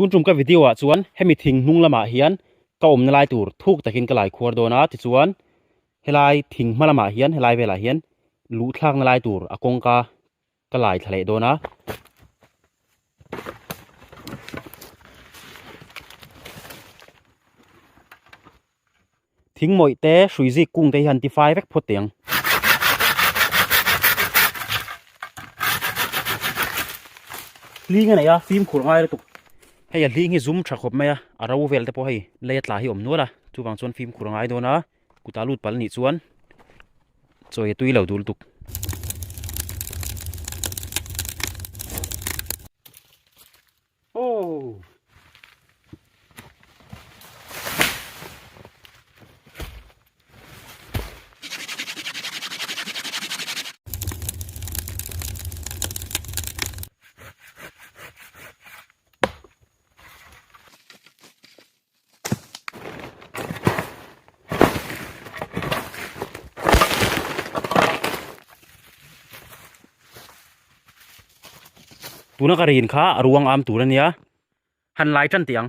tun tum ka video ah chuan hemi thing hnung lamah hian ka awmna lai tur thuk takin ka laikhuar dawn a tichuan helai thing hma lamah hian helai velah hian luh thlakna lai tur a kawngka-- ka lai thla leh dawn a. Thing mawih te hrui zik kung te hi han ti fai vek phawt teh ang. Hling a nei a, fim khur ngai lutuk. Hei a hling hi zum tha khawp mai a, a ro vel te pawh hei lei a tla hi awm nual a, chuvang chuan fim khur a ngai dawn a. Kuta lut pal nih chuan chawi a tui lo dul tuk. tuna ka rin kha a ruang am tur ania han lai tan tiang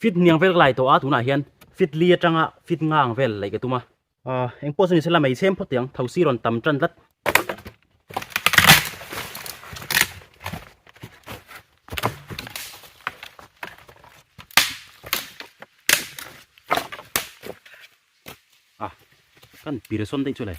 fit niang vel lai to a tunah hian fit li atanga fit ngang vel lei ka tuma a eng pawh chu ni sela mei chhem phawt tiang thosi rawn tam tan tlat a kan pir son dei chu lai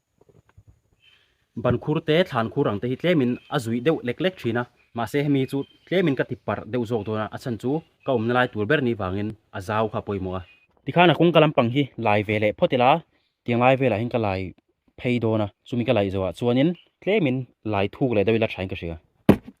Ban khur te thlan khur ang te hi tlemin a zuih deuh lek lek thin a, mahse hemi chu tlemin ka ti parh deuh zawk dawn a, a chhan chu ka awmna lai tur ber ni vangin a zau kha a pawimawh a. Tikhan a kawngka lampang hi lai ve leh phawt ila, tianglai velahin ka lai phei dawn a, chumi ka laih zawhah chuanin tlemin lai thuk leh deuh ila tha in ka hria.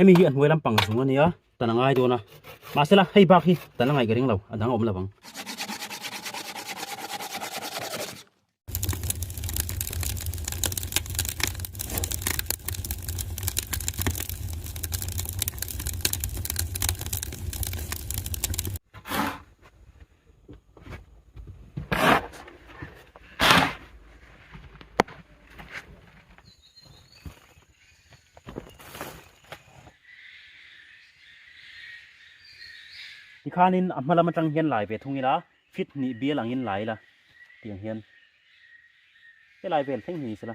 hemi hi a hnuai lampang zung a nia tan a ngai dawn a mahse la hei bak hi tan a ngaihka reng lo a dang a awm lo vang khanin a hmalam atang hian lai ve thung ila fit ni bial angin lai ila tiang hian he lai vel thleng hi sela.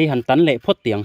hei han tan leh phawt tih ang.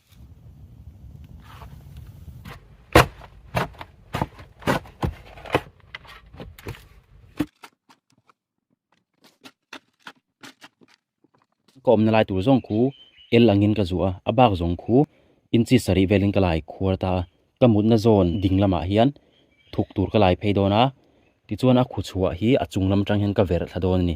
ka awmna lai tur zawng khu el angin ka zuah a a bak zawng khu inchi sarih velin ka lai khuar ta a ka mutna zone ding lamah hian thuk tur ka lai phei dawn a tichuan a khuchhuah hi a chung lam atang hian ka verh thla dawn a ni.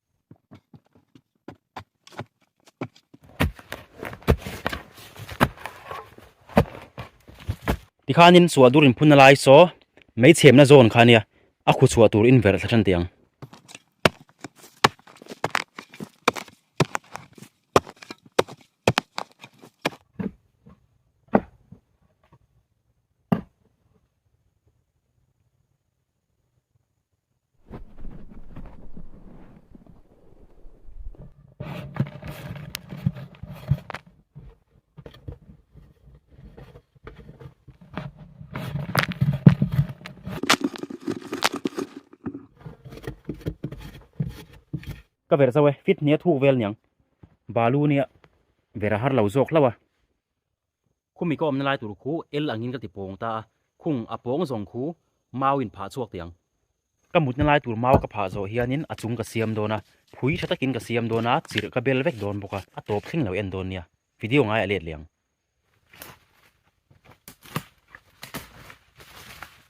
Tikhanin suahdur in phun a lai saw mei chhemna zawn kha nia a khaw chhuah tur inver thla than teh ang. ka ver zo e fit hnih a thuk vel niang balu nia vera har lo zawk hlauh a. Khum i ka awmna lai tur khu el angin ka ti pawng ta a, khung a pawng zawng khu mau in phah chhuak teh ang. Ka mutna lai tur mau ka phah zawh hianin a chung ka siam dawn a, phui tha takin ka siam dawn a, chirh ka bel vek dawn bawk a, a tawp thleng lo en dawn nia, video ngai a let leh ang.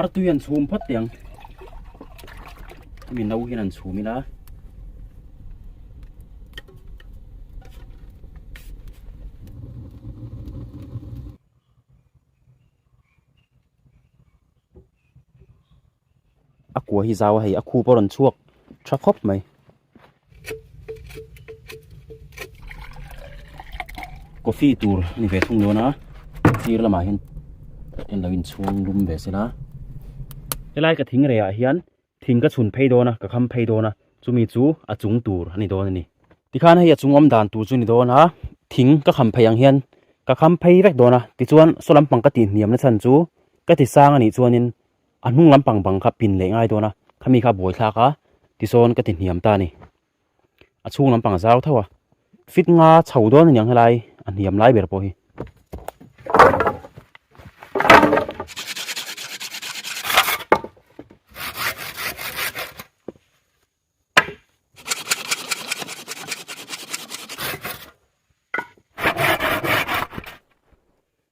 ar tu yan chhum phat tiang mi no hian an chhum ila A kua hi zau a hei a khu pawh a rawn chhuak tha khawp mai. Coffee tur ni ve thung luan a, sir lamah hian en lo inchhuang lum ve se la. Helai ka thing reiah hian thing ka chhun phei dawn a, ka kham phei dawn a, chumi chu a chung tur a ni dawn a ni. Tikhan hei a chung awm dan tur chu ni dawn a, thing ka kham phei ang hian ka kham phei vek dawn a, tichuan saw lampang ka tih hniam na chhan chu ka ti sang a nih chuanin a hnung lampang bang kha pin leh ngai dawna khami kha a buai thlak a tisawn ka ti hniam ta a ni a chhung lampang a zau tho a fit nga chho dawn a niang helai a hniam lai ber pawh hi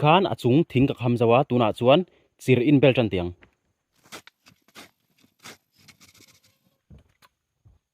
tikhan a chung thing ka kham zo a tunah chuan chirh in belt a ni ang.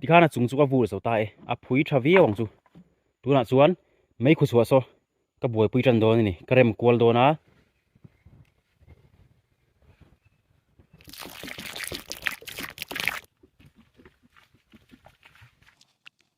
tikhan a chung chu ka vur zo ta e a phui tha viau ang chu tunah chuan mai khaw chhuah saw ka buaipui tan dawn a ni ka rem kual dawn a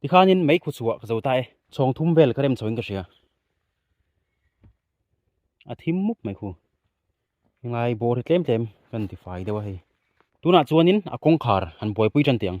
tikhanin mai khaw chhuah ka zo ta e chhawng thum vel ka rem chhoin ka hria a thim mup mai khu ngai bawr hi tlem tlem kan ti fai deuh a hei tunah chuanin a kawngkhar han buaipui tan tih ang.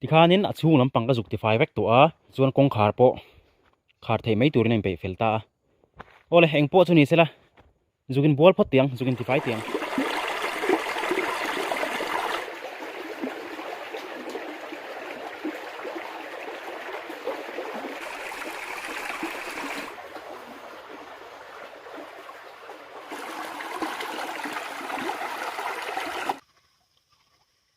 tikhanin a chhung lampang ka zuk ti fai vek tawh a chuan kawngkhar pawh khar theih mai turin a inpeih fel ta a awle eng pawh chu ni sela zukin bual phawt tih ang zukin ti fai tih ang.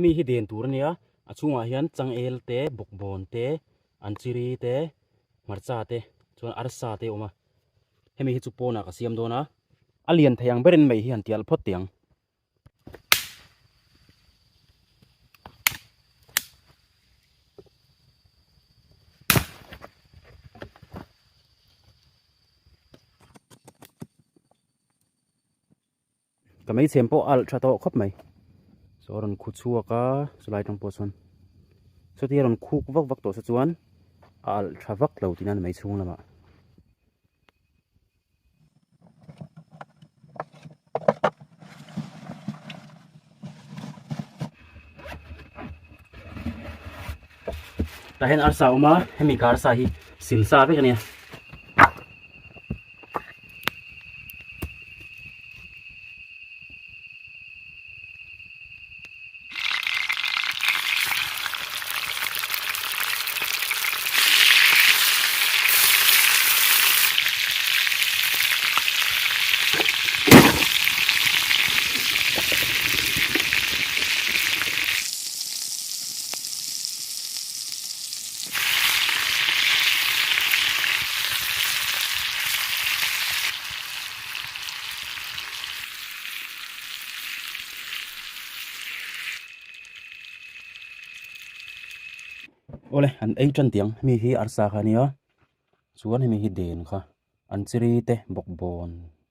hemi hi den tur a nia a chhungah hian changel te bawkbawn te. An chiri te, hmarcha te, chuan arsa te awm a, hemi hi chu pawnah ka siam dawn a. A lian thei ang berin mei hi han tial phawt teh ang. Ka hmeichhem pawh alh tha tawh khawp mai. Saw a rawn khu chhuak a, chulai tang pawh chuan Sawti a rawn khuk vak vak tawh se chuan a alh tha vak lo tiin a ni mai chhung lamah. Tah hian arsa awm a, hemi ka arsa hi sil sa vek a nia. awle an ei tan tiang hemi hi arsa kha nia chuan hemi hi den kha an chiri te bawkbawn--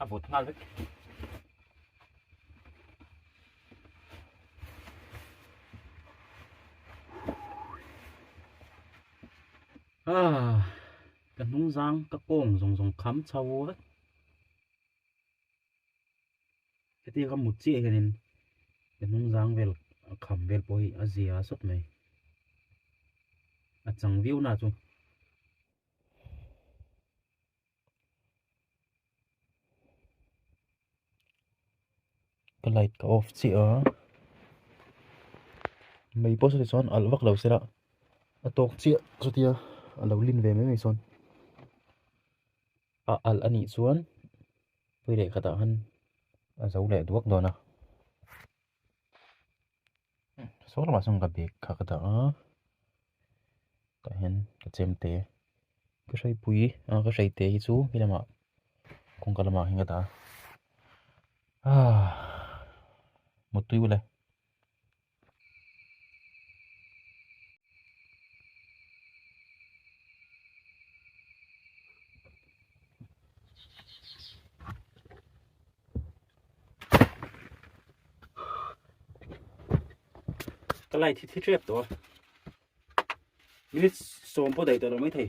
a vut nghal vek ah ka hnung zang ka kawng zawng zawng kham chho vek heti ka mut chiah hianin ka hnung zang vel a kham vel pawh hi a zia sawt mai a chang viau na chu ka light ka off chiah a mei pawh chu tichuan alh vak lo se lah a tawk chiah chutia a lo lin ve mai mai chuan a alh anih chuan pui leh khatah khan a zo leh duak dawn a. Saw lamah sawn ka bag kha ka dah a, tah hian ka chem te a, ka hreipui a ka hreite hi chu he lamah kawngka lamah hian ka dah a mut tui uleh. ka lai thi thi trep to minute som po dai to lo mai thei